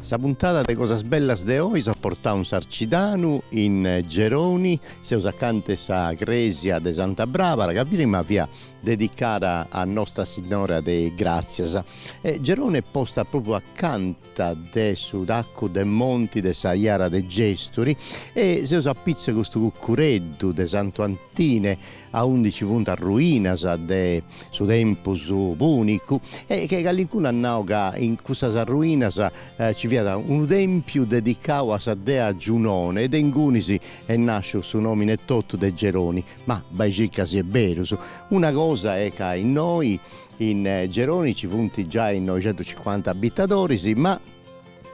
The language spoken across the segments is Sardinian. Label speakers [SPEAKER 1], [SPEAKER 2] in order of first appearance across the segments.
[SPEAKER 1] Sa puntada de Cosas Bellas de oi s'at portau in Sarcidanu, in Geroni, seus acanta 'e sa crèsia de Santa Brabara, ca prima fiat dedicada a Nostra Sinnora de Gràtzias. Geroni est posta propriu acanta de su tacu de monti de sa Jara de Gèsturi e seus apitzus a custu cucureddu de Santu Antine aundi nci funt arruinas de su tempus pùnicu e calincunu at nau ca in cussas arruinas nci fiat unu tèmpiu dedicau a sa dea Giunone e de ingunis est nàsciu su nòmini etotu de Geroni. Ma bai circa si est berus. Una cosa est ca innoi in Geroni nci funt giai noixentucincuanta abitadoris ma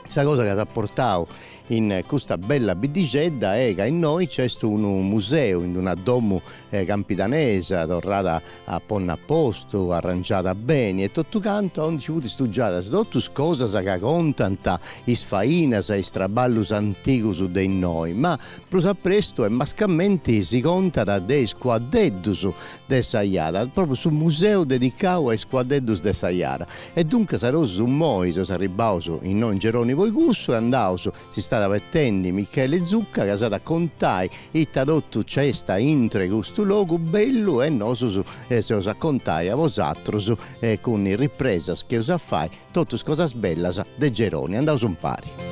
[SPEAKER 1] Sa cosa ca s'at portau in custa bella biddixedda est ca innoi nc'est unu museu in una domu campidanesa torrada a ponni a postu, arrangiada beni e totu cantu aundi nci funt stugiadas totu is cosas ca contant is fainas e is traballus antigus de innoi, ma prus a prestu e mascamenti si contat de is cuaddeddus de sa Jara, propriu su museu dedicau a is cuaddeddus de sa Jara E duncas nosus immoi seus arribbaus innoi in Geroni po icussu e andaus, s'istat abetendi Micheli Zucca ca s'at a contai ita totu nc'est a intro 'e custu logu bellu e nosus s'eus a contai a bosatrus cun is ripresas chi eus a fai totu is cosas bellas de Geroni. Andaus impari.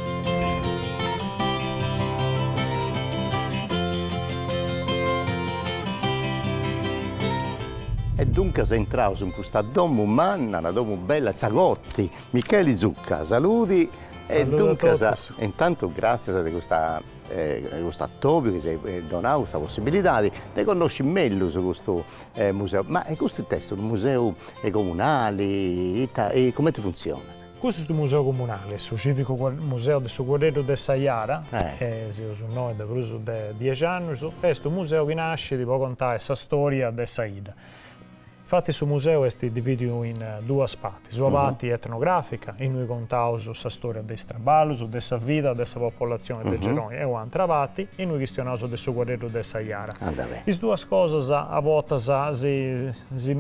[SPEAKER 1] E duncas intraus in custa domu manna, una domu bella, in sa corti, Micheli Zucca, saludi. E duncas, intantu gràtzias de custa de custu atobiu chi s'eis donau custa possibilidadi de connosci mellus custu museu. Ma custu ita est, unu museu comunali, ita, cumenti funtzionat? Custu est su
[SPEAKER 2] museu comunali, su cìvicu museu de su Cuaddeddu de sa Jara, e seus innoi de prus de dexi annus, est unu museu chi nascit po contai sa stòria de sa 'idda. Infati su museu est divìdiu in duas partis, una parti etnogràfica, innui contaus sa stòria de is traballus, de sa vida de sa populatzioni de Geroni e un'antra parti innui chistionaus de su Cuaddeddu de sa Jara. Is duas cosas a bortas si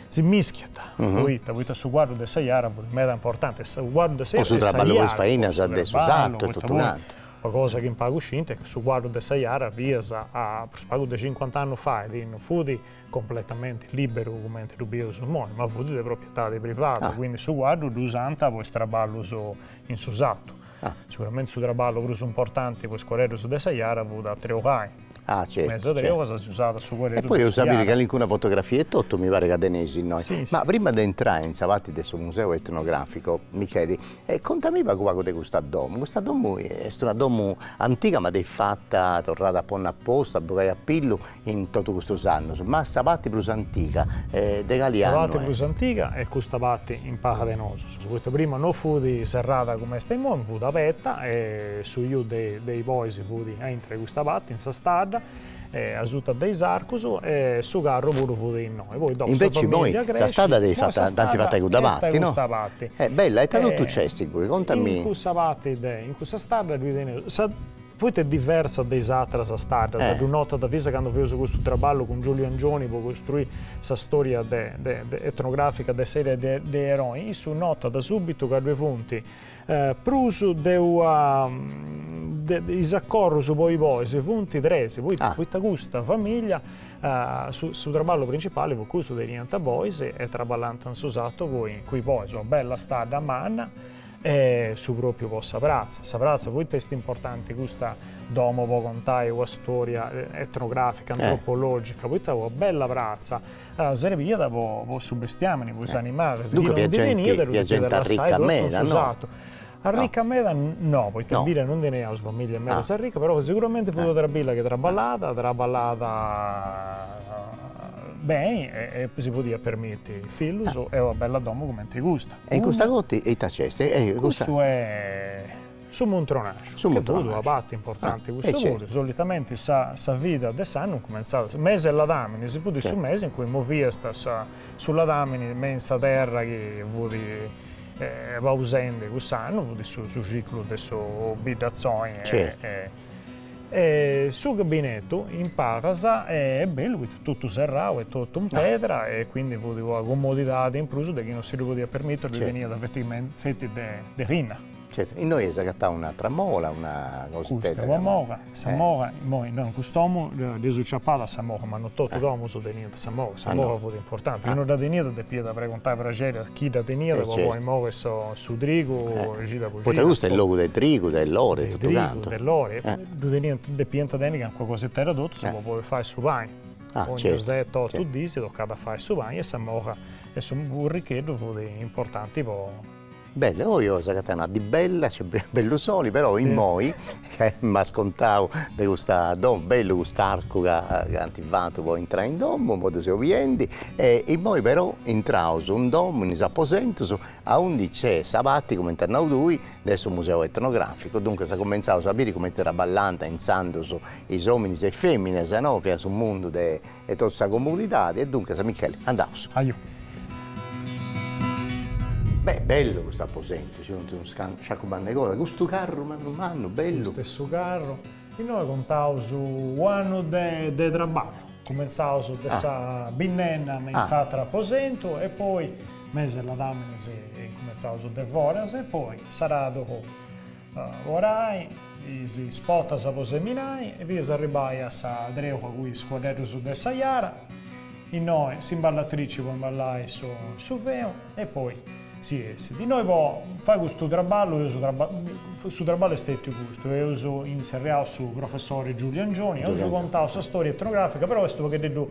[SPEAKER 2] Si mischiant poita poita su cuaddu de sa jara fut meda importanti, su cuaddu de sa jara e sa jara po su traballu po is
[SPEAKER 1] fainas de su sartu e totu cantu. Una cosa chi in
[SPEAKER 2] pagus scint est chi su cuaddu de sa jara finas a prus pagu de cincuant'annus fait non fut completamenti liberu cumenti ddu bieus imoi ma fut de proprietadi privada, quindi su cuaddu ddu usant po is traballus in su sartu. Siguramenti su traballu prus importanti po is cuaddeddus de sa jara fut a treulai, Ah certu. Me so
[SPEAKER 1] deo cosa si
[SPEAKER 2] usat su cuore e poi eus a
[SPEAKER 1] biri calincuna fotografia etotu mi paret ca teneis innoi. Ma prima de intrai in sa parti de su museu etnografico Micheli, contami pagu pagu de custa domo, custa domo est una domo antiga ma dd'eis fata, torrada a ponni a postu, a bogai a pillu in totu custus annus, ma sa parti prus antiga de cali annu est? Sa parti prus antiga
[SPEAKER 2] est custa parti in pala de nosu Poita prima no fut serrada cument'est imoi, fut abeta e su iu de de is bois fut a intru 'e custa pati in sa stadda e asuta de is arcus e su carru puru fut innoi. Poi dopu sa famiglia cresci. Sa
[SPEAKER 1] stadda dd'eis fata, dd'ant fata de custa pati, no? Est de custa pati. Bella, ita totu nc'est ingoi, contami. In cussa pati de,
[SPEAKER 2] in cussa stadda ddui teneus sa Poita est diversa de is atras staddas, ddu notat finzas candu feus custu traballu cun Giuliu Angioni po costruì sa storia etnografica de s'area de Gerrei, issu notat subitu ca ddue funt prus de una, is acorrus po is bois funt tres, poita poita custa famiglia su traballu principali fut custu, teniant bois e traballant in su satu cun is bois, una bella stadda manna E su pròpiu po sa pratza. Sa pratza poita est importanti custa domo po contai una stòria etnogràfica, antropològica, poita una bella pratza serbiat po su bestiàmini, po is animalis, chi non ndi teniat e
[SPEAKER 1] ddu depiat lassai totu in su sartu.
[SPEAKER 2] Arrica meda no, poita in bidda non teneus familia meda arrica, però seguramente fut una familia chi traballat, traballat beni e si podiat permitti fillus e una bella domo
[SPEAKER 1] cumenti
[SPEAKER 2] custa. E
[SPEAKER 1] in
[SPEAKER 2] custa cotti e
[SPEAKER 1] ita nc'est? Custu
[SPEAKER 2] est su muntronaxu, su muntronaxu, chi fut una parti importanti custu puru, solitamenti sa sa vida de s'annu cumentzat mesi 'e ladaminis, fut su mesi in cui moviast su ladamini me in sa terra chi fut pausendi cuss'annu, fut su su ciclu de su biddatzoni e E su gabbinetu in palas est bellu poita totu serrau e totu in pedra e quindi fut una comodidadi in prus de chi non si ddu podiat permittiri ddu teniat feti de linna. Certu, innoi
[SPEAKER 1] eis agatau un'atra mola, una cositedda. Custa, una mola, sa
[SPEAKER 2] mola, imoi innoi in cust'omu dd'eus ciapada sa mola ma non totu is domus teniant Sa moga, sa moga fut importanti, chi no dda teniat depiat preguntai praxeri a chi dda teniat po poi moghi su trigu cida po cida. Poita custu est logu de trigu,
[SPEAKER 1] de lori, de totu cantu. De lori, e ddu
[SPEAKER 2] teniant, depiant tenni calincuna cositedda totus po poi fai su pani. Ogni seti, otu dì si tocat a fai su pani e sa moga e su burricheddu fut importanti po
[SPEAKER 1] Bellu, oi oi s'agatat una dì bella, c'est bellu soli, però immoi ca m'as contau de custa domo, bellu cust'arcu ca ant fatu po intrai in domo, immoi ddu seu biendi, e immoi però intraus in domo, in is aposentus, aundi nc'est sa parti, cumenti as nau tui, de su museu etnograficu, duncas cumentzaus a biri cumenti traballant intzandus is ominis e is feminas no, fiat su mundu de 'e totu sa comunidadi. E duncas Micheli, andaus. Ajo. Beh, bellu custu aposentu, nc'est unu sciacu mannu 'e cosa, custu carru mannu mannu, bellu. Custu est su carru.
[SPEAKER 2] Innoi contaus u' annu de de traballu. Cumentzaus de sa binnenna me in s'ateru aposentu e poi, mese 'e ladaminis, cumentzaus de foras e poi s'aradu. Po arai, is spotas po seminai e fias arribai a sa treua cun is cuaddeddus de sa Jara, innoi s'imballatrici po imballai su feu e poi si essit. Innoi po fai custu traballu eus, su traballu est stetiu custu, eus intzerriau su professori Giulio Angioni, eus contau sa storia etnografica, però est u' paghededdu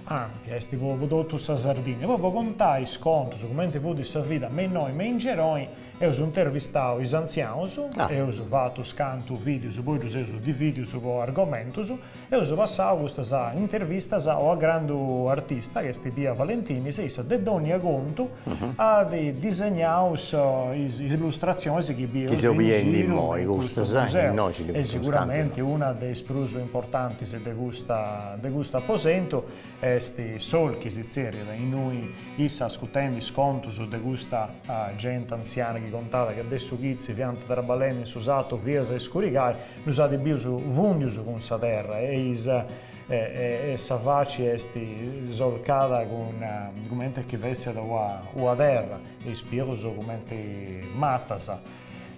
[SPEAKER 2] ampia, est po totu sa Sardinnia, poi po contai is contus, cumenti fut sa vida me innoi me in Geroi Eus intervistau is antzianus, eus fatu is cantu videus poi ddus eus dividius po argomentus, eus passau custas intervistas a una grandu artista chi est Pia Valentinis e issa de dònnia contu at disegnau is illustratzionis chi seus biendi
[SPEAKER 1] innoi
[SPEAKER 2] e siguramenti una de is prus importantis de custa, de custu aposentu Est Solchi si tzerriat, innui issa ascutendi is contus de custa genti antziana chi contat ca de su chitzi fiant traballendi in su satu fias a iscurigai, ddus at bius fundius cun sa terra e is e sa faci est solcada cun cumenti chi fessat una terra e is pius cumenti matas.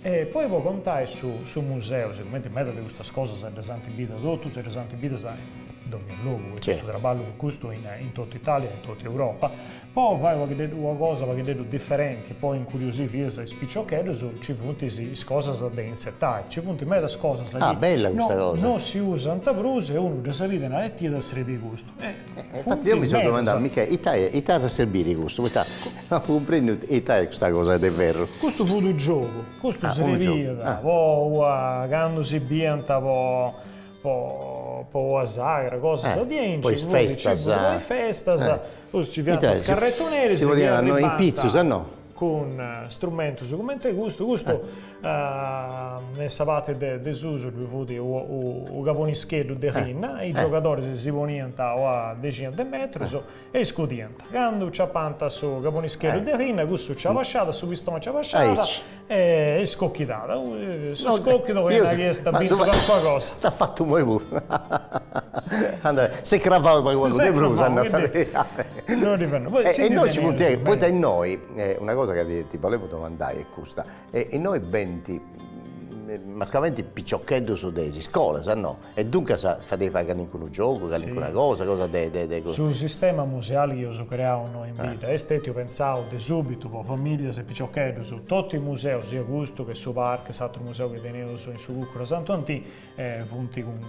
[SPEAKER 2] E poi po contai su su museu, sigumenti meda de custas cosas ddas ant bidas totus e ddas ant bidas in dogna logu, poita su traballu fut custu in in totu Italia e in totu Europa, po fai una paghideddu una cosa una paghideddu diferenti, po incuriosì fias is piciocheddus, nci funt is is cosas de intzetai, nci funt medas cosas chi
[SPEAKER 1] no no si usant
[SPEAKER 2] prus e unu ddas bit e narat, e it'iat a srebii custu Infatti eo mi
[SPEAKER 1] so domandadu, Michè, ita est, ita at a serbiri custu, poita no cumprendu ita est custa cosa de ferru. Custu fut unu giogu,
[SPEAKER 2] custu srebiat po ua, candu si biant po po ua sagra, cosas diaici, po is festas, po
[SPEAKER 1] is festas,
[SPEAKER 2] si biant is carretoneris, si podiant innoi in
[SPEAKER 1] pitzus, no?
[SPEAKER 2] cun strumentus comente custu, custu in sa parte de susu ddu fut u cabonischeddu de linna, is giogadoris si poniant o a dexina de metrus e iscudiant, candu ciapant su cabonischeddu de linna cussu nci abasciat, su pistoni nci abasciat e iscochidat, su scochidu bolit nai chi iast bintu calincuna cosa. Dd'at fatu imoi
[SPEAKER 1] puru, si cravau pagu pagu de prus. E innoi ci funt, poita innoi, una cosa ca ti bolemu domandai est custa, innoi benint mascamenti piciocheddus de is iscolas no, e duncas fadeis fai calincunu giogu, calincuna cosa, cosa de de.
[SPEAKER 2] Su sistema museali chi eus creau innoi in bidda est stetiu pentzau de subitu po familias e piciocheddus, totu is museus, siat custu che su PARC, s'aturu museu chi teneus in su cucuru a Santu Antini, E funt cun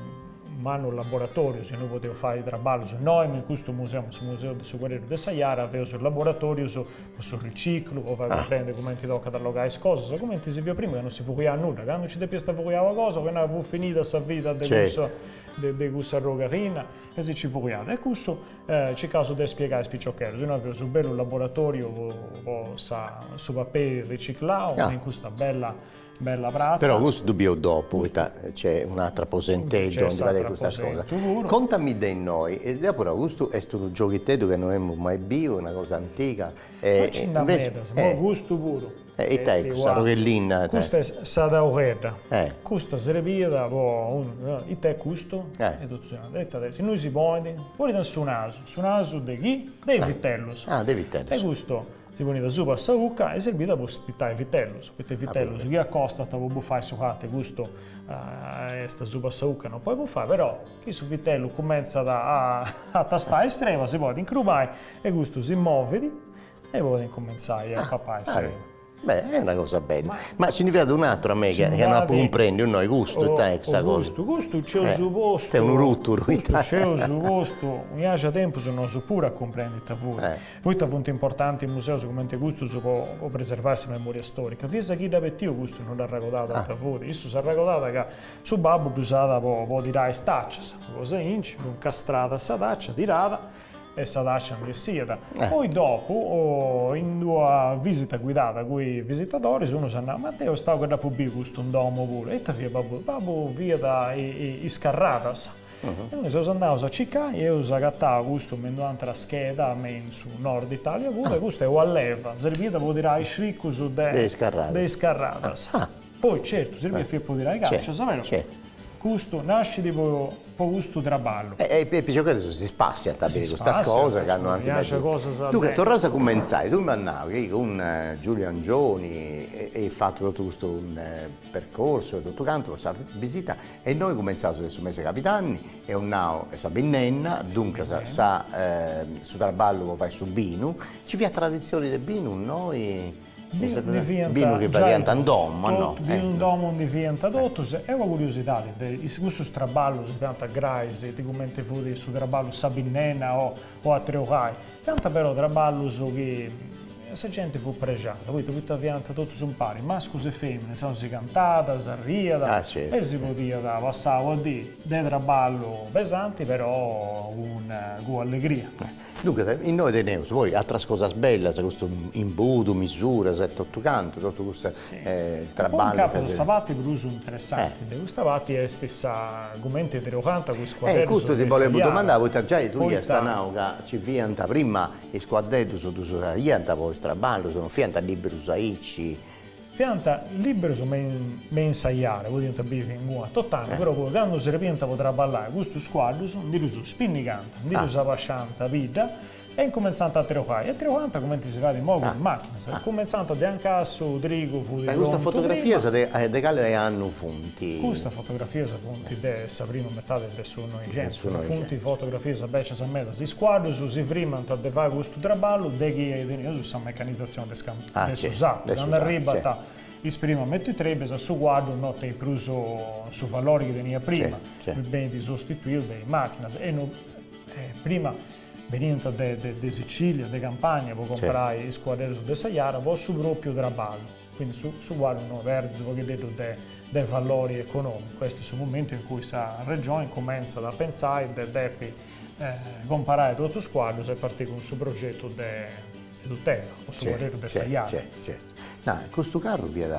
[SPEAKER 2] mannu laboratòrius, innui podeus fai traballus nois, in custu museu, in su museu de su Cuaddeddu de sa Jara, fadeus laboratòrius po su riciclu, po fai cumprendi cumenti tocat a allogai is cosas, cumenti si fiat prima ca non si fuliat nudda, candu nci depiast a fuliai una cosa, po nai, fut finida sa vida de cussa de cuss'arrogu 'e linna e si nci fuliat. E cussu circaus de spiegai a is piciocheddus, innoi fadeus u' bellu laboratòriu po sa su paperi riciclau, in custa bella Però cussu ddu biu
[SPEAKER 1] dopu poita nc'est un'atru aposenteddu aundi fadeis custas cosas. Contami de innoi, deu però custu est unu gioghiteddu ca no emu mai biu, una cosa antiga e ita
[SPEAKER 2] est
[SPEAKER 1] cust'arrogu 'e linna? Custa est
[SPEAKER 2] sa tauledda, custa serbiat po ita est custu? Si innoi si ponit, ponit in su nasu, su nasu de chi? De is vitellus, e
[SPEAKER 1] custu
[SPEAKER 2] Si ponit asuba a sa ucca e serbit po stitai vitellus, poita vitellus chi acostant po bufai su lati custu est asuba a sa ucca e non podit bufai, però chi su vitellu cumentzat a tastai is erbas si podit incrubai e custu si movit e podit incumentzai a papai is erbas. Beh, est una
[SPEAKER 1] cosa bella. Ma si ndi fiat un'aturu a mei chi non apu cumprendiu innoi, custu ita est sa cosa? Custu, custu nc'eus
[SPEAKER 2] postu, custu
[SPEAKER 1] nc'eus
[SPEAKER 2] postu, unu pagu 'e tempus nosu puru a cumprendi ita fut, Poita funt importantis is museus cumenti custus po preservai sa memòria stòrica? Fintzas a chi dd'at betiu custu no dd'arragodat ita fut, issu s'arragodat ca su babbu dd'usat po tirai is tàcias, una cosa aici, dd'incastrat a sa tàcia, tirat e sa tàcia ndi essiat. Poi dopu, in d'una visita guidada cun is visitadoris, unu s'at nau, ma deu est stau ca dd'apu biu custu in domu puru, ita fiat babbu? Babbu fiat is carradas. Nois seus andaus a cicai e eus agatau custu me in un'atra scheda me in su Nord Italia puru e custu est una leva, sirbiat po tirai is criccus de de is carradas. Poi certu sirbiat fiat po tirai tàcias però custu nascit po po custu traballu. E is
[SPEAKER 1] piciocheddus si spassiant a biri custas cosas candu ant bessì. Duncas torraus a cumentzai, tui m'as nau chi cun Giulio Angioni eis fatu totu custu percorsu e totu cantu po sa bisita e innoi cumentzaus de su mese cabidanni e eus nau e sa binnenna, duncas sa su traballu po fai su binu, ci fiat traditzioni de binu innoi? binu chi fadiant in domu a no? binu in domu
[SPEAKER 2] ndi fiant totus, e una curiosidadi de is cussus traballus si fiant grais ti cumenti fut su traballu sa binnenna o po a treulai, fiant però traballus chi sa genti fut prexada, poita poita fiant totus impari, mascus e feminas, insaus si cantàt, s'arriat e si podiat passai una dì de traballu pesanti però cun cun allegria. Duncas, innoi
[SPEAKER 1] teneus poi atras cosas bellas, custu imbudu, misuras e totu cantu, totu custu Poi in capus a
[SPEAKER 2] sa parti prus interessanti de custa parti est sa cumenti
[SPEAKER 1] triogant cus cuaddedus de s'aliada, poita. Fiant
[SPEAKER 2] liberus me me in s'aliada, podiant bivi inguna tot'annu, però poi candu srebiant po traballai custus cuaddus ndi ddus spinnigant, ndi ddus abasciant bidda, E incumentzant a treulai, e treulant cumenti si fait immoi cun is machinas, e cumentzant de anca su trigu fut prontu prima. Custas
[SPEAKER 1] fotografias de cale annu funt? Custas fotografias
[SPEAKER 2] funt de sa prima metadi de su Noixentu, ma funt fotografias bècias medas. Is cuaddus si frimant de fai custu traballu de chi iat tenius sa mecanizatzioni de de su sartu, candu arribant is primas mietitrèbias su cuaddu no tenit prus su valori chi teniat prima, benit sostituiu de is machinas e no prima Beniant de Sicilia, de Campania po comporai is cuaddeddus de sa Jara po su propiu traballu, quindi su cuaddu no perdit u' pogheddeddu de valori economicu, est su momentu in cui sa Regioni cumentzat a pentzai de depi comparai totus is cuaddus e partit cun su progetu de tutela po su cuaddeddu de sa Jara. No,
[SPEAKER 1] custu carru fiat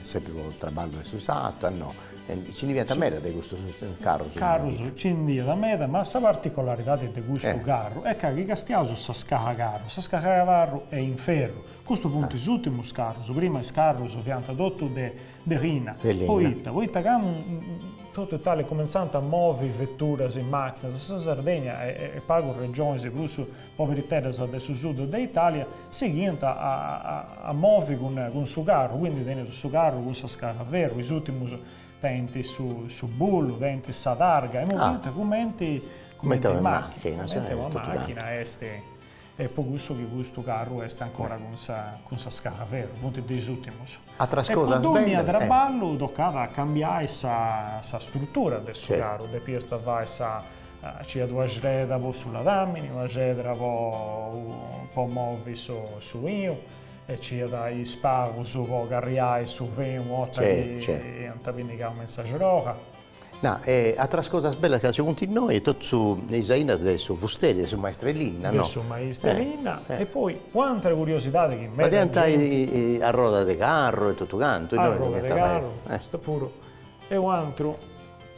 [SPEAKER 1] sempri po traballu 'e su sartu, a no, nci ndi fiant meda de custus carrus? Carrus nci ndi
[SPEAKER 2] iat meda, ma sa particolaridadi de custu carru est ca chi castiaus sa scala 'e carru, sa scala 'e carru est in ferru, custus funt is ùrtimus carrus, prima is carrus fiant totus de de linna, poita poita candu totu Italia cumentzant a movi veturas e màchinas, sa Sardegna e pagus regionis prus Poberiteddas de su sud de Italia sighiant a movi cun su carru, quindi teneus su carru cun sa scala veru, is ultimus tenint su bullu, tenint sa targa, imoi fint cumenti una machina, cumenti una machina est, e po cussu chi custu carru est ancora cun sa scala veru, funt de is ultimus. E po
[SPEAKER 1] dogna traballu
[SPEAKER 2] tocat a cambiai sa struttura de su carru, depiast fai sa Nc'iat una cedra po su ladamini, una cedra po po movi su su 'inu e nc'iat is pagus po carriai su fenu una 'orta chi iant pinnigau me in s'axrola. Na,
[SPEAKER 1] e atras cosas bellas ca ci funt innoi e totu su e is ainas de su fusteri, de su maestru 'e linna, no? De su maestru
[SPEAKER 2] 'e linna e poi un'atra curiosidadi chi meda genti. Fadiant
[SPEAKER 1] arrodas de carru e totu cantu, innoi. Arrodas de carru,
[SPEAKER 2] custu puru e u' atru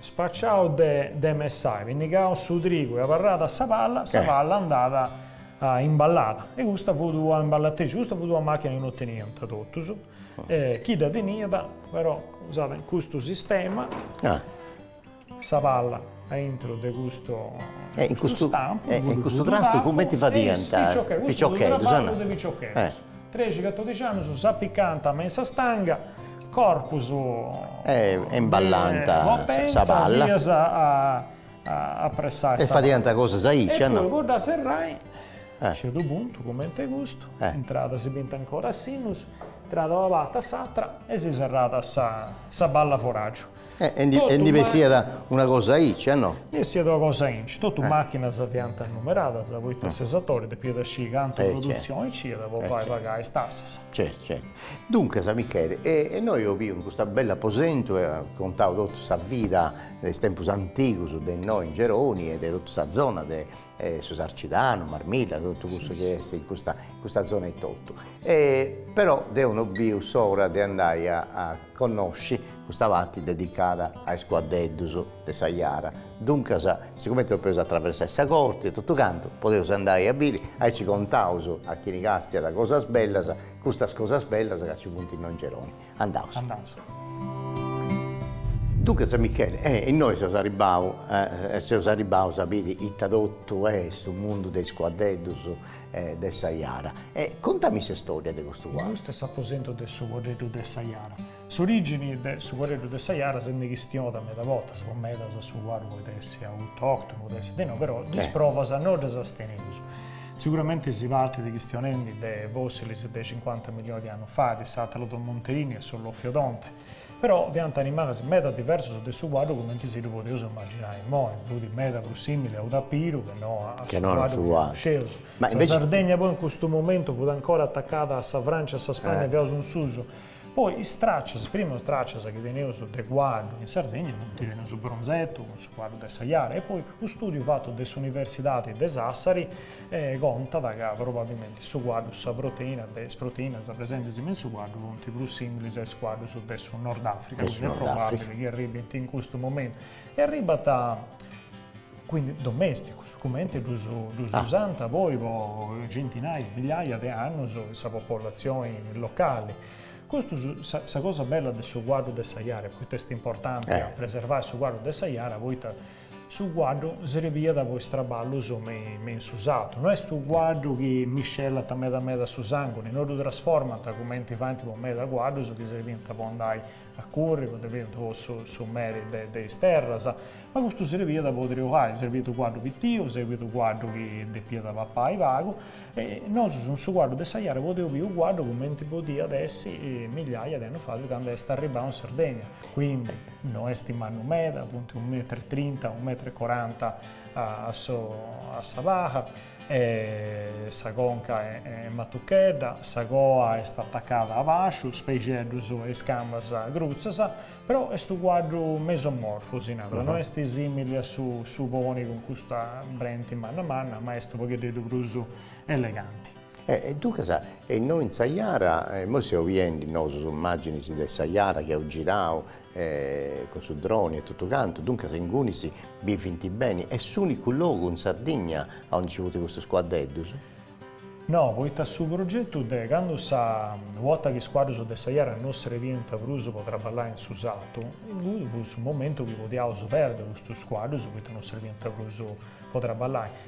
[SPEAKER 2] Spaciau de de messai, pinnigau su trigu e abarrada sa palla, sa palla andat a imballada e custa fut una imballatrici, custa fut una machina chi no teniant totus, chi dda teniat però usat custu sistema, sa palla aintru de custu stampu, e in custu trastu
[SPEAKER 1] cumenti fadiant, piciocheddus,
[SPEAKER 2] Trexi catodixi annus s'apicànt me in sa stanga, corpus.
[SPEAKER 1] E e imballant sa palla. Fias a a
[SPEAKER 2] pressai. E fadiant
[SPEAKER 1] cosas aici a no. E poi po dda
[SPEAKER 2] serrai, a certu puntu, comente custu, intrada si bint ancora a sinnus, intrada una parti a s'atra e si serrat sa sa balla 'e foràgiu. E e e
[SPEAKER 1] ndi bessiat una cosa aici a no? Ndi essiat una cosa
[SPEAKER 2] aici, totu màchinas fiant numeradas, poita s'esatori depiat a sciri cantu produtzioni nc'iat po fai pagai is tassas. Certu certu.
[SPEAKER 1] Duncas Micheli, e e nois eus biu in custu bellu aposentu e as contau totu sa vida de is tempus antigus de innoi in Geroni e de totu sa zona de su Sarcidanu, Marmilla, totu cussu chi est in custa custa zona etotu. E però deu no biu s'ora de andai a a connosci custa parti dedicada a is cuaddeddus de sa jara, duncas sicumenti depeus atraversai sa corti e totu cantu, podeus andai a biri, aici contaus a chini castiat cosas bellas, custas cosas bellas ca ci funt innoi in Geroni. Andaus. Andaus. Duncas Michele, e innoi seus arribau, e seus arribaus a biri ita totu est su mundu de is cuaddeddus de sa jara. E contami s'istoria de custu cuaddu. Custu est s'aposentu de
[SPEAKER 2] su Cuaddeddu de sa Jara. S'origini de su Cuaddeddu de sa Jara si nd'est chistionau meda bortas, po medas su cuaddu podet essi autoctonu, podet essi de no, però is provas no ddas teneus. Siguramente si partit chistionendi de fossilis de cincuanta milioni de annus fait, de s'Atalodon Monterini e su Lofiodonte, Però fiant animales meda diversos de su cuaddu cumenti si ddu podeus imaginai imoi, fut meda prus simili a unu tapiru che no a su cuaddu chi connosceus. Sa Sardegna poi in custu momentu fut ancora atacada a sa Francia e a sa Spagna fiaus in susu, poi is traccias, is primas traccias chi teneus de cuaddu in Sardegna funt, teneus unu bronzetu cun su cuaddu de sa Jara e poi unu studiu fatu de s'Universidadi de Sassari, e contat ca probabilmente su cuaddu, sa proteina de is proteinas presentes in su cuaddu funt prus similis a is cuaddus de su Nordafrica, quindi est probabili chi arribbint in custu momentu e arribbant quindi domesticus, cumenti ddus usant poi po centinaia, migliaia de annus sa popollatzioni locali. Custus, sa cosa bella de su cuaddu de sa Jara, poita est importanti preservai su cuaddu de sa Jara, poita Su cuaddu srebiat po is traballus me in su satu, no est unu cuaddu chi miscellant meda meda su sanguni, no ddu trasformant cumenti faint po meda cuaddus chi srebiant po andai a curri, o ddi fiant po su su meri de de is terras, ma custu srebiat po treuai, srebiat unu cuaddu pitiu, srebiat unu cuaddu chi depiat papai pagu, e nosu cun su cuaddu de sa Jara podeus biri unu cuaddu cumenti podiat essi migliaia de annus fait candu est arribau in Sardegna, quindi No est mannu meda, appuntu unu metru e trinta, unu metru e coranta a sa paba. Sa conca est matuchedda, sa coa est atacada a basciu, is peixeddus e is cambas crutzas, però est unu cuaddu mesomorfu, si narat, no est simili a su su poni cun custa brenti manna manna, ma est u' paghededdu prus eleganti.
[SPEAKER 1] E duncas e innoi in sa jara, immoi seus biendi, no, is imaginis de sa jara chi eus girau cun su droni e totu cantu, duncas ingunis bivint beni, est s'unicu logu in Sardigna a onde nci funt custus cuaddeddus?
[SPEAKER 2] No, poita su progetu de candu sa 'orta chi is cuaddus de sa jara no srebiant prus po traballai in su sartu, inguni fut su momentu chi podiaus perdi custus cuaddus poita no srebiant prus po traballai.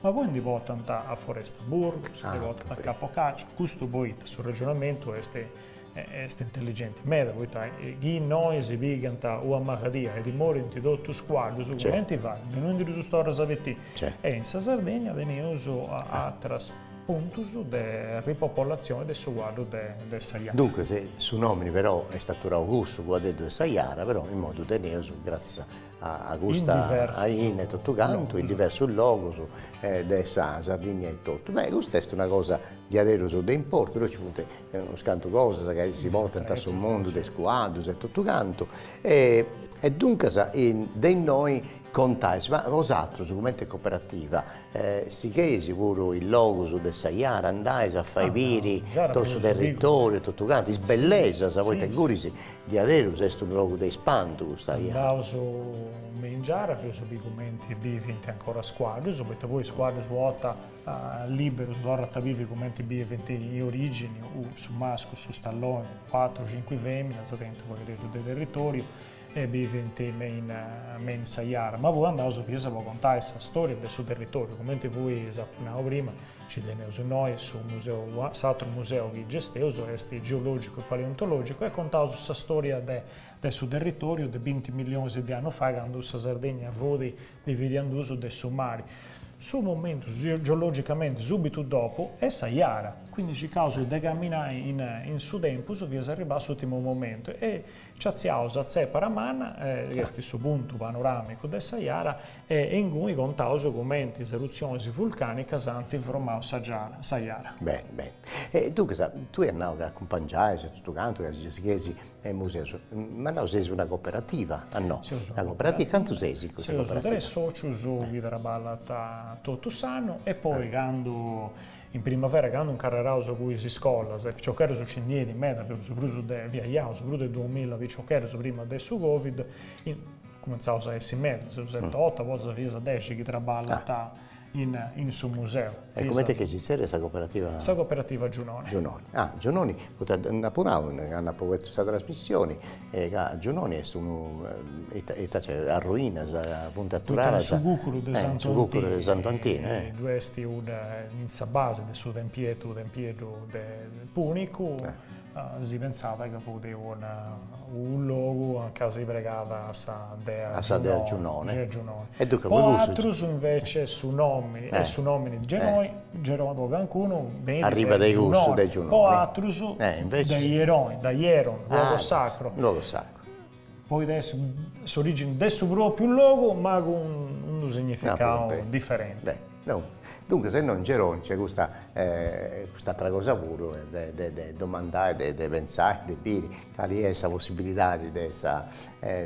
[SPEAKER 2] Ma poi ndi potant a Foresta Burgos, ndi potant a Capo Caccia, custu poita su ragionamentu est est intelligenti meda, poita chi innoi si pigant una maladia e ddoi morint totus is cuaddus, cumenti fait chi no ndi ddus torras a betì? E in sa Sardegna teneus aterus puntus de ripopolatzioni de su cuaddu de de sa jara. Duncas, su nomini
[SPEAKER 1] però est aturau cussu, cuadeddu de sa jara, però immoi ddu teneus gratzias a custa aina e totu cantu in diversus logus de sa Sardigna e totu, beh custa est una cosa diaderus de importu, ddoi nci funt unus cantu cosas chi si portant a su mundu de is cuaddus e totu cantu e duncas de innoi contais, ma bosatrus cumenti cooperativa sigheis puru is logus de sa Jara, andais a fai biri totu su territoriu e totu cantu, is bellesas poita ingunis Diaderus est unu logu de ispantu custu chi.
[SPEAKER 2] Andaus me in giara fias a bi cumenti bivint ancora is cuaddus, poita poi is cuaddus una borta liberus torrant a bivi cumenti biviant in origini, u su mascu su stalloni, cuatru cinqui feminas tenint u pagheddeddu de territoriu e bivint me in me in sa jara, ma poi andaus fias po contai sa storia de su territoriu cumenti fui nendi prima Nci teneus nois su museu, s'atru museu chi gesteus est geològicu e paleontològicu e contaus sa stòria de de su territòriu de binti millionis de annus fai candu sa Sardegna fut dividida in duus de su mari, su momentu geològicamenti subitu dopu est sa jara. Quindi circaus de caminai in in su tempus fias a arribai a s'ùrtimu momentu e nci atziaus a Tzepara Manna chi est su puntu panoràmicu de sa jara e inguni contaus cumenti is erutzionis vulcànicas ant formau sa sa jara. Beni,
[SPEAKER 1] beni. E duncas, tui as nau ca acumpangiais e totu cantu ca si sighit is museus, m'as nau seis una coperativa, o no? Seus una coperativa. Cantu seis in custa coperativa? Seus tres socius
[SPEAKER 2] chi traballant totu s'annu e poi candu, in primavera candu ncarreraus cun is iscolas de piciocheddus nci ndi benint meda, fiaus prus de, fiaus prus de duamilla piciocheddus prima de su covid, Cumentzaus a essi mesu ses otu, poi fias dexi chi traballant in su museu. E comenti est chi si zerriat
[SPEAKER 1] sa cooperativa? Sa cooperativa Giunoni.
[SPEAKER 2] Giunoni, ah Giunoni,
[SPEAKER 1] poita dd'apu apu nau candu apu fatu sa trasmissioni, ca Giunoni est unu, ita ita nc'est, arruinas, funt aturaras. Su cucuru de
[SPEAKER 2] Santu Antinu. Su cucuru de Santu
[SPEAKER 1] Antinu, eh. Ddu est in
[SPEAKER 2] sa basi de su tempietu, tempieddu de Punicu. Si pentzat ca fut una unu logu aca si pregat a sa dea Giunone. A sa dea Giunone. Dea
[SPEAKER 1] Giunone. E duncas po
[SPEAKER 2] cussu. Po atrus invece su nomi e su nomini Geroi, Geroni, po cancunu benit de, arribat de
[SPEAKER 1] cussu de Giunone. Po atrus
[SPEAKER 2] de Ieroni, da Ieron, luogo sacro. Luogo sacro. Poit essi s'orìginu de su pròpiu logu ma cun unu significadu diferenti. Duncas
[SPEAKER 1] innoi in Geroni nc'est cust'atera cosa puru de domandai, de pentzai, de biri cali est sa possibilidadi de sa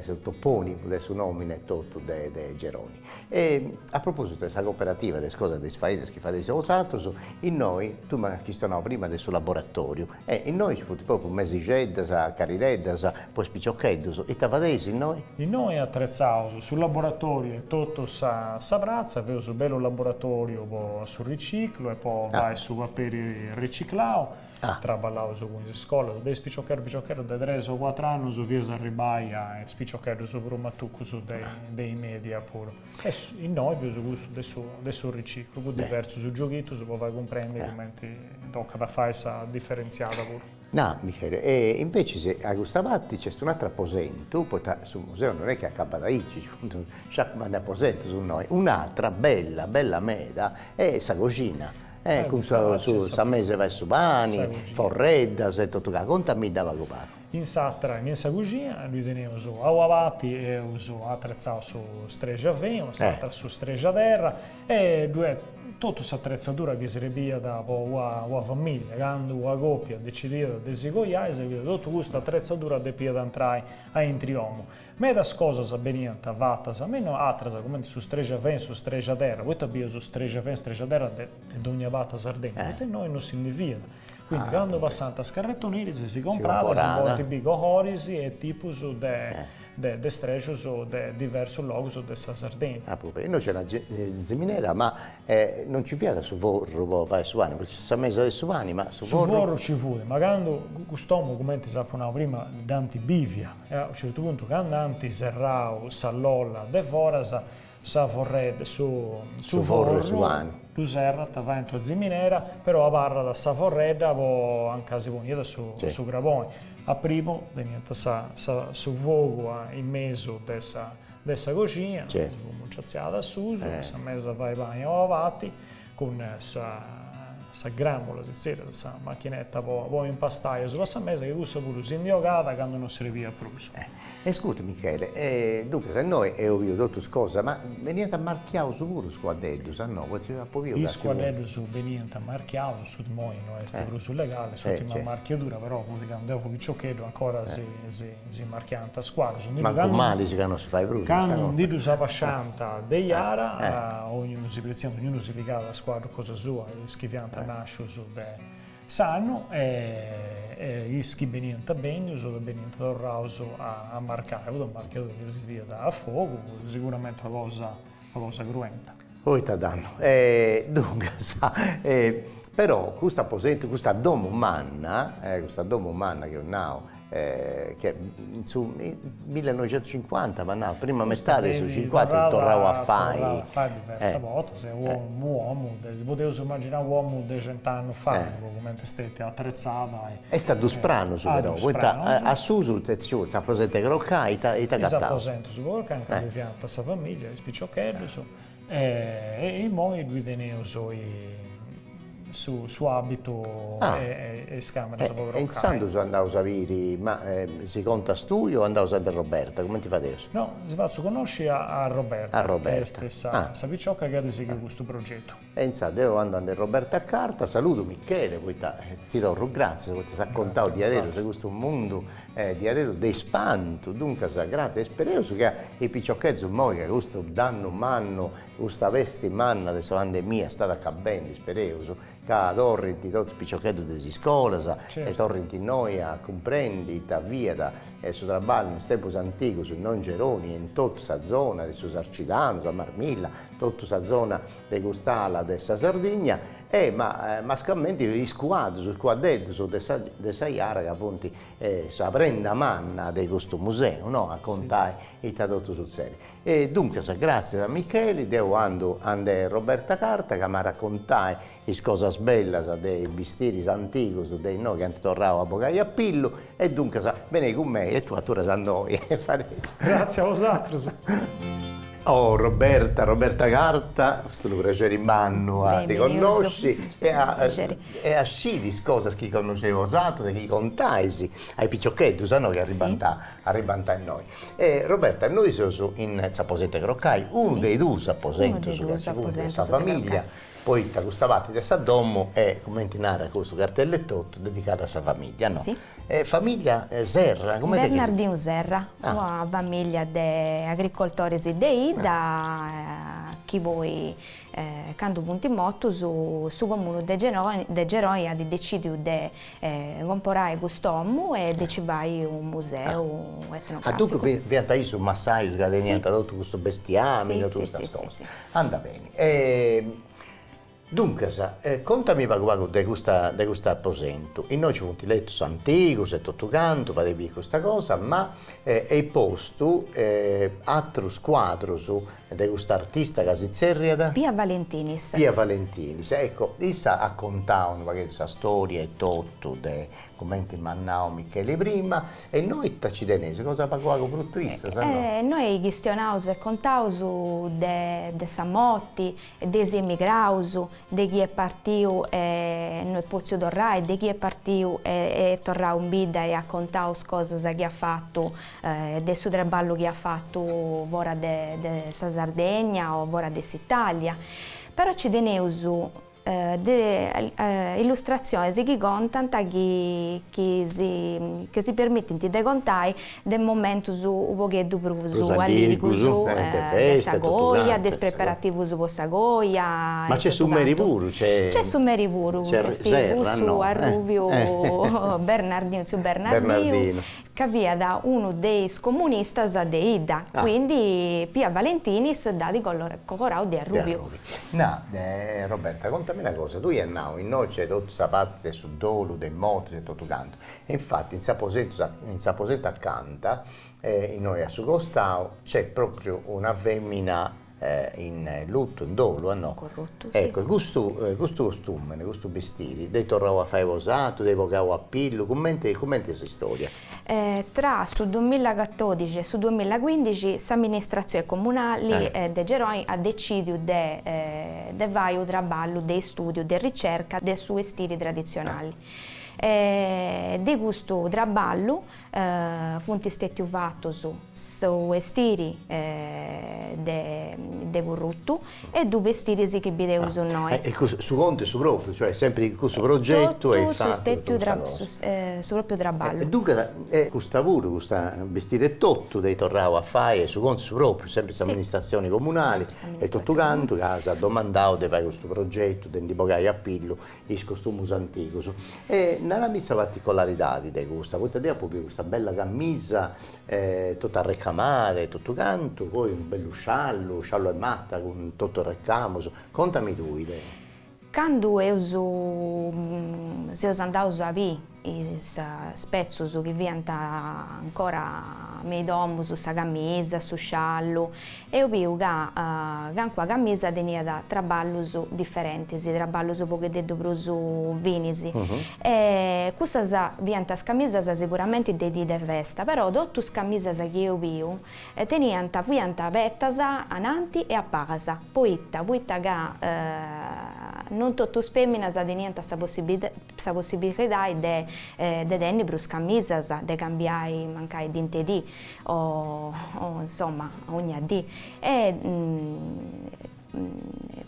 [SPEAKER 1] su topònimu de su nòmini etotu de Geroni. E a propositu de sa coperativa de is cosas de is fainas chi fadeis bosaterus, innoi, tui m'as chistionau prima de su laboratoriu E innoi ci funt propriu mesixeddas, cadireddas, po is piciocheddus. Ita fadeis innoi? Innoi
[SPEAKER 2] atretzaus su laboratoriu in totu sa pratza, feus u bellu laboratoriu po su riciclu e po fai su paperi riciclau. Traballaus cun is iscolas, de is piciocheddus piciocheddus de tres o cuatru annus fias a arribbai a is piciocheddus prus matucus de is media puru. E innoi bieus custu de su de su riciclu, cun diversus gioghitus po fai cumprendi cumenti tocat a fai sa diferentziada puru. Nara, Michele, e
[SPEAKER 1] invecis a custa parti nc'est un'atru aposentu, poita su museu non est chi acabat aici, nci funt sciacu mannu 'e aposentus innoi, un'atra bella bella meda est sa coxina, e cun su sa mesa 'e fai su pani, forreddas e totu, contamidda pagu pagu.
[SPEAKER 2] In s'atra, in sa cuxina, ddoi teneus a ua parti eus atretzau su strexafinu, s'atra su strexu 'e terra e ddu est totu s'atretzadura chi srebiat po ua ua familia. Candu ua copia decidiat de si coiai serbiat totu custa atretzadura depiat antrai aintru 'e omu. Medas cosas beniant fatas me no atras cumenti su strexafinu, su strexu 'e terra, poita bius strexafinu, strexu 'e terra de dogna parti 'e Sardegna, poita innoi no si ndi fiat. Quindi cando passant is carretoneris si comporant si podint biri coloris e tipus de strexus de diversus logus de sa Sardegna. Ah puru, innoi nc'era
[SPEAKER 1] ziminera ma non nci fiat su forru po fai su pani, fortzis sa mesa de su pani ma su forru?. Su forru nci fut,
[SPEAKER 2] ma candu cust'omu cumenti s'apu nau prima dd'ant bivia e a u' certu puntu cand'ant serrau sa lolla de foras Sa forredda, su forru 'e su pani.
[SPEAKER 1] Ddu serrant,
[SPEAKER 2] faint una ziminera, però abarrat sa forredda po, a nca si poniat su craboni. A primu teniant sa su fogu in mesu de sa coxina, su fumu nci atziaat a susu, sa mesa 'e fai pani, abarrat, Cun sa gràmula, si zerriat sa machineta po impastai a susu 'e sa mesa chi cussa puru si ndi ogàt candu no srebiat prus. Escurta
[SPEAKER 1] Michele, duncas innoi eo biu totus cosas, ma beniant marchiaus puru is cuadeddus, a no, potziu apu biu ca Is
[SPEAKER 2] cuadeddus beniant marchiaus, su imoi no est prus legali, s'ùrtima marchiadura, però fut candu eo fui piciocheddu ancora si Si marchiant is cuaddus. Mancu malis
[SPEAKER 1] ca non si fait prus. Cando ndi
[SPEAKER 2] ddus abasciant de Jara, ognunu si pretziat, ognunu si pigat is cuaddus cosa sua, is chi fiant nàscius de s'annu e is chi beniant bèndius ca beniant torraus a marcai, fut una marchiadura chi si fiat a fogu, siguramenti una cosa cruenta. Poita fait
[SPEAKER 1] dannu. E duncas, e però custu aposentu, custa domu manna, e custa domu manna chi eus nau, e che in su millenoixentucincuanta m'at nau, prima metadi 'e su cincuanta est torrau a fai, e diversas bortas,
[SPEAKER 2] est unu omu, si podeus imaginai u' omu de cent'annus fai, po cumenti est stetia atretzada, e. Est a dus
[SPEAKER 1] pranus però, poita a susu s'aposentu 'e crocai ita ita agataus? Is aposentus po crocai nci ndi fiant sa familia
[SPEAKER 2] piciocheddus e immoi ddui teneus s'abitu e is cameras po crocai. E intzandus andaus a
[SPEAKER 1] biri, ma si contas tui o andaus a nd'e Roberta, cumenti fadeus? No, si fatzu connosci
[SPEAKER 2] a Roberta, ca est sa picioca chi at sighiu custu progetu. E intzandus deu
[SPEAKER 1] andu a nd'e Roberta Carta, saludu Michele poita ti torru gratzias poita s'at contau diaderus de custu mundu diaderus de ispantu, duncas gratzias, ispereus chi a is piciocheddus imoi ca custu dannu mannu, custa pesti manna de sa pandemia istat acabendi, ispereus ca torrint totus is piciocheddus de is iscolas e torrint innoi a cumprendi ita fiat su traballu in is tempus antigus innoi in Geroni e in totu sa zona de su Sarcidanu, sa Marmilla totu sa zona de cust'ala de sa Sardigna e mascamenti is cuaddus, is cuaddeddus de sa de sa Jara ca funt sa prenda manna de custu museu no, a contai ita totu sutzedit. E duncas, gratzias a Micheli, deu andu a nd'e Roberta Carta ca m'at a contai is cosas bellas de is bistiris antigus de innoi chi ant torrau a bogai a pillu e duncas benei cun mei e tui aturas innoi e fadeis.
[SPEAKER 2] Gratzias a bosatrus.
[SPEAKER 1] Oh Roberta, Roberta Carta, est unu prexeri mannu a ti connosci e a e a sciri is cosas chi connosceis bosatrus e chi contais a is piciocheddus no chi arribant arribant innoi. E Roberta noi seus in s'aposent'e crocai, unu de is dus aposentus custu segundu de sa familia poita custa parti de sa domo est, cumenti narat custu cartellu etotu, dedicada a sa famiglia, no? Si. E famiglia Serra, cumenti est chi si... Bernardinu Serra,
[SPEAKER 3] una famiglia de agricoltoris de 'idda chi poi candu funt mortus su comunu de de Geroni at decìdiu de comporai cust'omu e de nci fai unu museu etnogràficu. Ah, duncas fiant issus
[SPEAKER 1] massajus ca teniant totu custu bestiamini, totu custas cosas. Andat beni E duncas contami pagu pagu de custa de custu aposentu, innoi ci funt letus antigus e totu cantu, fadeis biri custa cosa, ma eis postu atrus cuadrus de cust'artista ca si tzerriat? Pia Valentinis.
[SPEAKER 3] Pia Valentinis,
[SPEAKER 1] ecco, issa at contau unu pagheddu sa storia etotu de Cumenti m'at nau Micheli prima. E innoi ita ci teneis, cosa pagu pagu prus trista sa no. Innoi
[SPEAKER 3] chistionaus e contaus de de sa moti e de is emigraus, de chi est partiu e no est potziu torrai, de chi est partiu e est torrau in bidda e at contau is cosas chi at fatu e de su traballu chi at fatu fora de de sa Sardegna o fora de s'Italia. Però ci teneus. de illustratziones chi contant chi si permitint de contai de momentus u' pogheddu prus alligrus de sa coja, de is preparativus po sa coja. Ma nc'est su meri
[SPEAKER 1] puru? Nc'est su meri puru,
[SPEAKER 3] nc'est cussu arrubiu Bernardinu, tziu Bernardinu, ca fiat unu de is comunistas de idda, quindi Pia Valentini s'dd'at colorau de arrubiu. Na,
[SPEAKER 1] Roberta, contami una cosa, tui ias nau, innoi nc'est totu sa parti de su dolu, de is mortis e totu cantu, e infati in s'aposentu acanta, innoi a su costau, nc'est propriu una femina, in luttu, in dolu, no? Corrottu, si. Ecco, custu custu costumene, custu bistiri, dd'eis torrau a fai bosatrus, dd'eis bogau a pillu, cumenti cumenti est s'istória? Tra
[SPEAKER 3] su duemilacatordixi e su duemilacuindixi s'amministratzioni comunali de Geroni at decìdiu de de fai u' traballu de istúdiu, de ricerca de su 'estiri traditzionali. De custu traballu Funt stètiu fatus su bestiri de currutu e duus bestiris chi bideus innoi. E cussu, su contu est su
[SPEAKER 1] propriu, cioè sempri in cussu progetu est fatu totu custa cosa. Su
[SPEAKER 3] propriu traballu. Duncas, e
[SPEAKER 1] custa puru, custa bestiri e totu dd'eis torrau a fai, su contu est su propriu, sempri s'amministratzioni comunali e totu cantu ca s'at domandau de fai custu progetu, de ndi bogai a pillu is costumus antigus. E narami sa particolaridadi de custa, poita deu apu biu custa bella camisa totu arrecamada e totu cantu, poi unu bellu sciallu, sciallu 'e mata cun totu is recamus, contami tui, dai. Candu
[SPEAKER 3] eus seus andaus a biri is spetzus chi fiant ancora me is domus, sa camisa, su sciallu, eus biu ca cancuna camisa teniat traballus diferentis, traballus pogheddeddu prus finis, e cussas fiant is camisas siguramenti de dì de festa, però totu is camisas chi eus biu teniant, fiant apertas ananti e a palas, poita, poita ca non totu is feminas teniant sa sa possibilidade de de tenni prus camisas, de cambiai mancai dint'e dì o o insomma ogna dì e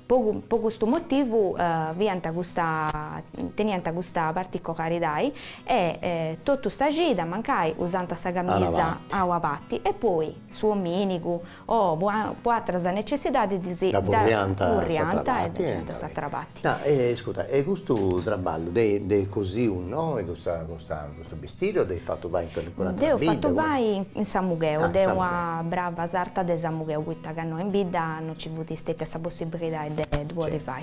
[SPEAKER 3] po po custu motivu fiant custa teniant custa particolaridai e totu sa cida mancai usant sa camisa a una parti e poi su ominigu o po atras necessidadis dda furriant a s'atra parti. No e iscuta e
[SPEAKER 1] custu traballu dd'eis cosiu innoi custa custa custu bistiri o dd'eis fatu fai in calincuna atra bidda? Dd'eus fatu
[SPEAKER 3] fai in Samugheu de una brava sarta de Samugheu poita ca innoi in bidda no nci fut stetia sa possibilidadi de ddu podi fai.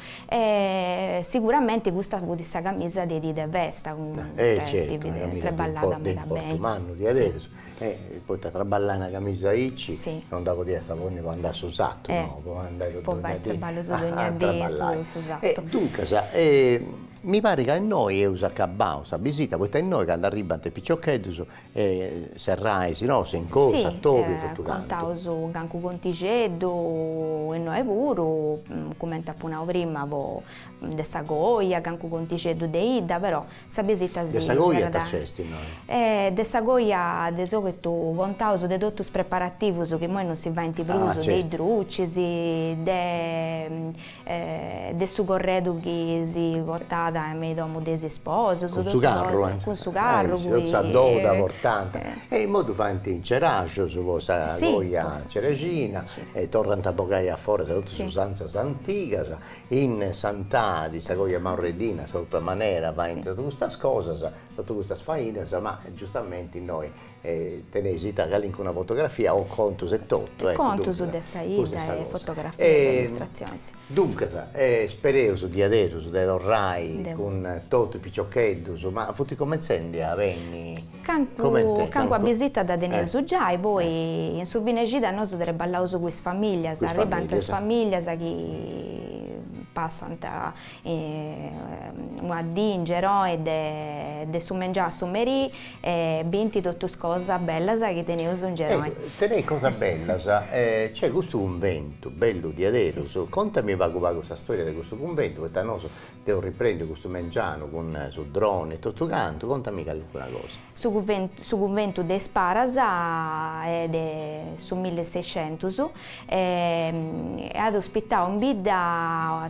[SPEAKER 3] E siguramente custa fut sa camisa de dì de festa, est
[SPEAKER 1] treballada meda beni. Poita a traballai una camisa aici no dda podiast ponni po andai a su sartu, no, po andai po
[SPEAKER 3] donnia dì a traballai.
[SPEAKER 1] Duncas mi parit ca innoi eus acabau sa bisita, poita innoi candu arribbant is piciocheddus E serrai si no s'in corzu a tobi totu cantu. Sì, contaus
[SPEAKER 3] cancu contixeddu, innoe puru, cumenti apu nau prima po de sa coja, cancu contixeddu de 'idda, però sa bisita si serrat. De sa coja ita
[SPEAKER 1] nc'est innoe? E de sa
[SPEAKER 3] coja de sòlitu contaus de totu is preparativus chi imoi non si faint prus, de is drucis, de E de su corredu chi si portat me i domu de is sposus, cun su carru, eh,
[SPEAKER 1] cun su carru, cun sa doda portant, e imoi ddu faint in Ceraxus po sa coja cerexina e torrant a bogai a foras totus is usanzas antigas, in Santadi sa coja maurreddina sa propriu manera faint totu custas cosas, totu custas fainas, ma giustamenti innoi E teneis ita, calincuna fotografia o contus e totu, eccu, duncas, custa est sa
[SPEAKER 3] cosa. Contus de sa 'idda e fotografias e illustratzionis. Duncas,
[SPEAKER 1] spereus diaderus de torrai cun totu is piciocheddus, ma funt cumentzendi a benni, comente,
[SPEAKER 3] cancuna bisita dda teneus giai, poi in su fine 'e cida nosu treballaus cun is familias, arribant is familias chi passant Una dì in Geroi de su mengianu a su merì bint totu is cosas bellas chi teneus in Geroi. Teneis
[SPEAKER 1] cosas bellas, cioè custu cunventu bellu diaderus, contami pagu pagu sa storia de custu cunventu, poita nosu dd'eus riprèndiu custu mengianu cun su drone e totu cantu, contami calincuna cosa. Su cunventu su
[SPEAKER 3] cunventu de is paras de su mille e seicentus at ospitau in bidda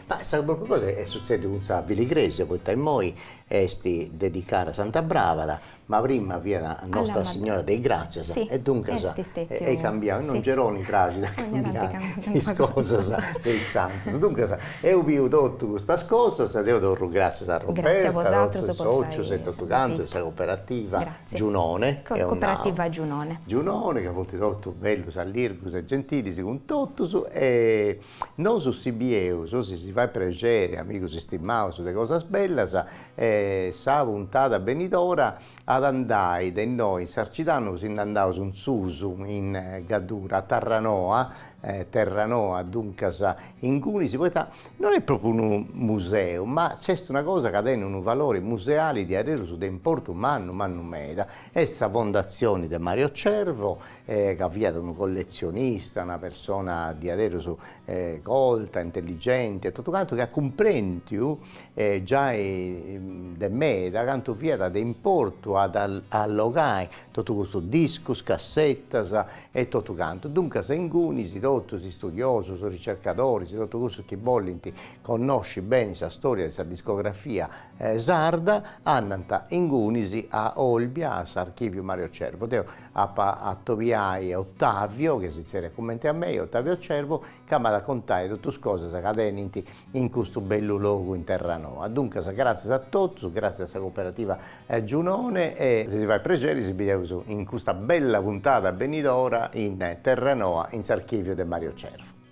[SPEAKER 1] Ma sa propriu cosa est sutzèdiu cun sa filigresia, poita immoi est dedicada a Santa Bràvara, ma prima fiat Nostra Signora de is Gràtzias, e duncas est cambiau, in Geroni praxit a cambiai is cosas de is santus, duncas eus biu totus custas cosas e deu torru gràtzias a Roberta, a totus is sòcius e totu cantu de sa coperativa Giunone, eus nau,
[SPEAKER 3] Giunone, ca funt
[SPEAKER 1] totus bellus, allirgus e gentilis cun totus e Nosu si bieus, si si fait prexeri, amigus istimaus de cosas bellas e sa puntada benidora at a andai de innoi in Sarcidanu si nd'andaus in susu in Gaddura, a Tarranoa, Terranoa duncas, ingunis, poita non est propriu unu museu ma nc'est una cosa ca tenit unu valori museali diaderus de importu mannu mannu meda, est sa fondatzioni de Mario Cervo e ca fiat unu colletzionista, una persona diaderus colta, intelligenti e totu cantu chi at cumprendiu giai de meda cantu fiat de importu a allogai totu custus discus, cassettas e totu cantu, duncas ingunis totus is studiosus, ricercadoris, totu cussus chi bolint connosci beni sa storia de sa discografia sarda andant ingunis a Olbia a s'archiviu Mario Cervo. Deo Apu a atobiai a Ottavio, che si zerriat cumenti a mei, Ottavio Cervo, ca m'at a contai totu is cosas ca tenint in custu bellu logu in Terranoa. Duncas, gràtzias a totus, gràtzias a sa Cooperativa Giunone e si si fait prexeri si bideus in custa bella puntada benidora in Terranoa in s'archìviu de Mario Cervo.